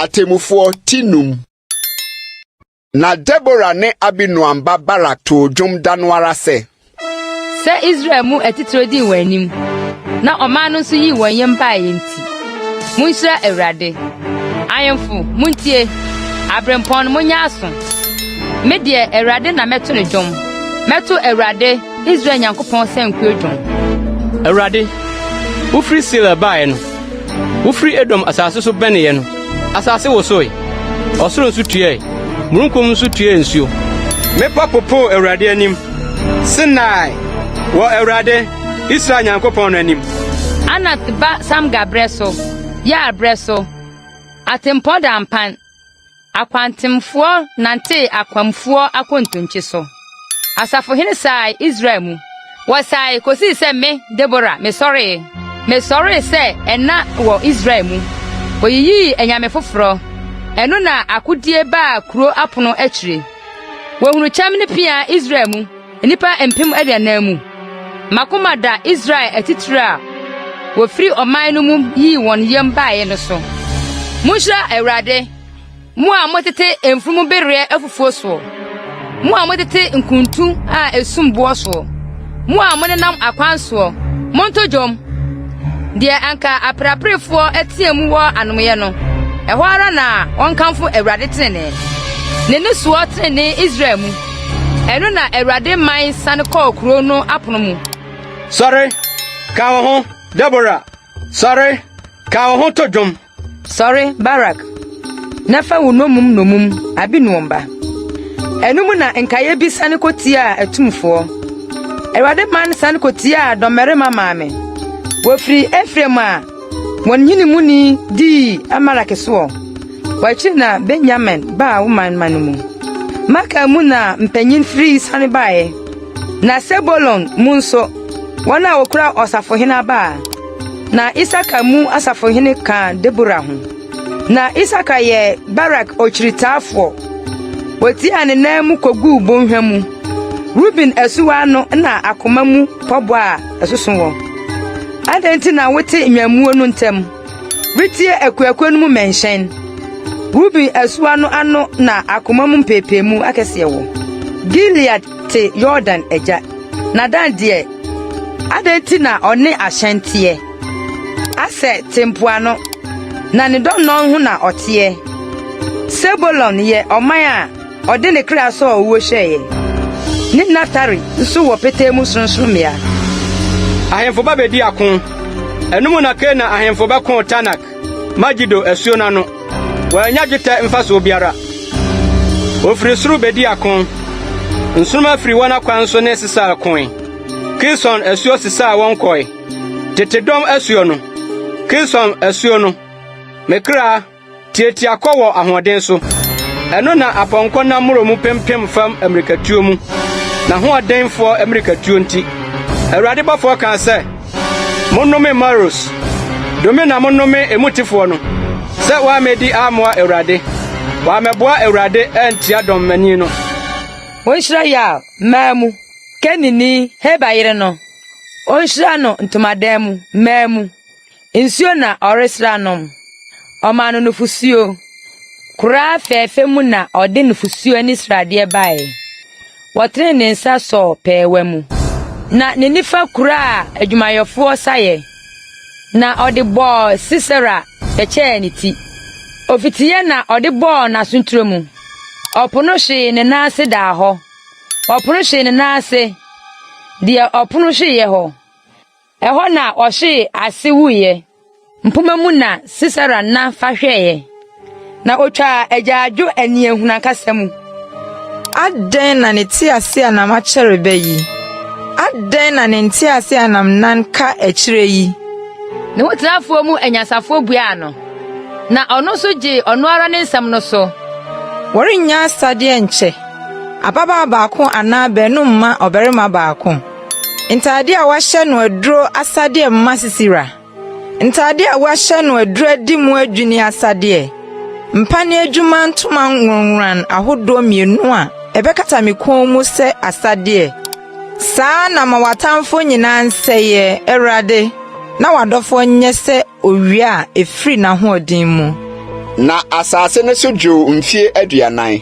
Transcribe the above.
Atemmufoɔ ti num. Na Debora ne Abinoam ba Barak too dwom da no ara sɛ. Sɛ Israel mu atitire dii wɔn anim, na ɔman no nso yii wɔn yam baeɛ nti, monhyira Awurade. Ahemfo, montie! Aberempɔn, monyɛ aso! Me deɛ, Awurade na mɛto no dwom. Mɛto Awurade Israel Nyankopɔn sankuo dwom. Awurade, wofiri Seir baeɛ no, wofiri Edom asase so bɛneeɛ no, asase wosoe, ɔsoro nso tueɛ, mununkum nso tuee nsuo. Mmepɔ popoo Awurade anim, Sinai, wɔ Awurade, Israel Nyankopɔn no anim. Anat ba Samgar berɛ so, Yair berɛ so, atempɔn da mpan. Akwantemfoɔ nantee akwamfoɔ akontonkye so. Asafohene saae Israel mu. Wɔsaae kosii sɛ me, Debora, mesɔree. Mesɔree sɛ ɛna wɔ Israel mu. Woyiyii anyame foforɔ. Ɛno na akodie baa kuro apono akyire. Wɔhunuu kyɛm ne pea Israel mu. nnipa mpem aduanan mu. M'akoma da Israel atitiriw a wofii ɔman no mu yii wɔn yam bae no so. Munhyira Awurade, mo a motete mfurum bereɛ afufuo soɔ, mo a motete nkuntu a esum boɔ soɔ, mo a monenam akwan soɔ, monto dwom! Deɛ anka apereaperefoɔ teɛ mu wɔ anomeeɛ no, ɛhɔ ara na wɔnkamfo Awurade trenee, ne nnisoɔ trenee Israel mu. Ɛno na Awurade mae sane kɔɔ kurow no apono mu. Sɔre, ka wo ho, Debora! Sɔre, ka wo ho to dwom! Sɔre, Barak, na fa wo nnommum nnommum Abinoam ba. Ɛno mu na nkaeɛ bi sane kɔtiaa atumfoɔ. Awurade man sane kɔtiaa dɔmmarima maame. Wɔfirii Efraim a wɔn nhene muni dii Amalek soɔ. Wɔakyiri na Benyamin baa wo manmma no mu. Makir mu na mpanyin firi siane bae, na Sebulon mu nso, wɔn a wokura ɔsafohene aba a. Na Isakar mu asafohene ka Debora ho. Na Isakar yɛ Barak ɔkyiritaafoɔ. Wotiaa ne nan mu koguu bɔnhwa mu. Ruben asuwa ano na akoma mu pɔboa a ɛsoso wɔ. Adɛn nti na wote nnwammuo no ntam? retie akuakuw no mu mmɛnhyɛn. Ruben asuwa no ano na akoma mu mpɛɛpɛɛmu akɛseɛ wɔ. Gilead te Yordan agya, na Dan deɛ, adɛn nti na ɔne ahyɛn teɛ? Aser te mpoano, na ne dɔnnɔn ho na ɔteɛ. Sebulon yɛ ɔman a Ɔde ne kra sɔɔ owuo hwɛeɛ. Ne nna tare nso wɔ petee mu sorɔnsorɔmmea. Ahemfo ba bɛdi ako. Ɛno mu na Kanaan ahemfo bɛkoo Taanak, Megido asuo no ano. Wɔannya dwetɛ mfasoɔ biara. Wɔfiri soro bɛdi ako. Nsoromma firi wɔn akwan so ne Sesar koe. Kison asuo sesaa wɔn kɔe. Tete dɔm asuo no, Kison asuo no, me kra. Tiatia kɔ wɔ ahoɔden so. Ɛno na apɔnkɔ nam mmoro mu pempem fam mmirikatuo mu, n'ahoɔdenfoɔ mmirikatuo nti. Awurade bɔfoɔ kaa sɛ, Monnome Maros! Dome na monnome emu tefoɔ no, sɛ wɔammɛdi ammoa Awurade, wɔammɛboa Awurade antia dɔmmani no. Wɔnhyira Yael mmaa mu, Kenini Heber yere no, wɔnhyira no ntomadan mu mmaa mu. Nsuo na ɔresra nom. Ɔmaa no nufosuo. Koraa fɛɛfɛ mu na ɔde nufosuo ani sradeɛ baeɛ. Wɔtenee ne nsa sɔɔ pɛɛwa mu. Na ne nifa kuraa adwumayɛfoɔ saeɛ, na ɔde bɔɔ Sisera bɛkyɛɛ ne ti. Ofitiiɛ na ɔde bɔɔ n'asontire mu. Ɔpono hwee ne nan ase daa hɔ. Ɔpono hwee ne nan ase, deɛ ɔpono hweeɛ hɔ. Ɛhɔ na ɔhwee ase wuiɛ. Mpoma mu na Sisera nna fa hwɛeɛ, na ɔtwaa agyaadwo aniɛhunu ankasa mu. Adɛn na ne teaseɛnam akyɛre bɛ yi? Adɛn na ne nteaseɛnam nan ka akyire yi? Ne ho tenafoɔ mu anyansafoɔ buaa no, na ɔno nso gyee ɔno ara ne nsɛm no so. Wɔrennya asadeɛ nkyɛ. Ababaa baako anaa baanu mma ɔbarima baako. Ntade a wɔahyɛ no aduro asadeɛ mma sisira. Ntade a wɔahyɛ no aduro adi mu adwini asadeɛ. Mpa ne adwuma ntoma nwonworan ahodoɔ mmienu a ɛbɛkata me kɔn mu sɛ asadeɛ. Saa na ma w'atamfoɔ nyinaa nsɛeɛ, Awurade, na w'adɔfoɔ nyɛ sɛ owia a ɛfiri n'ahoɔden mu. Na asase no so dwoo mfie aduanan.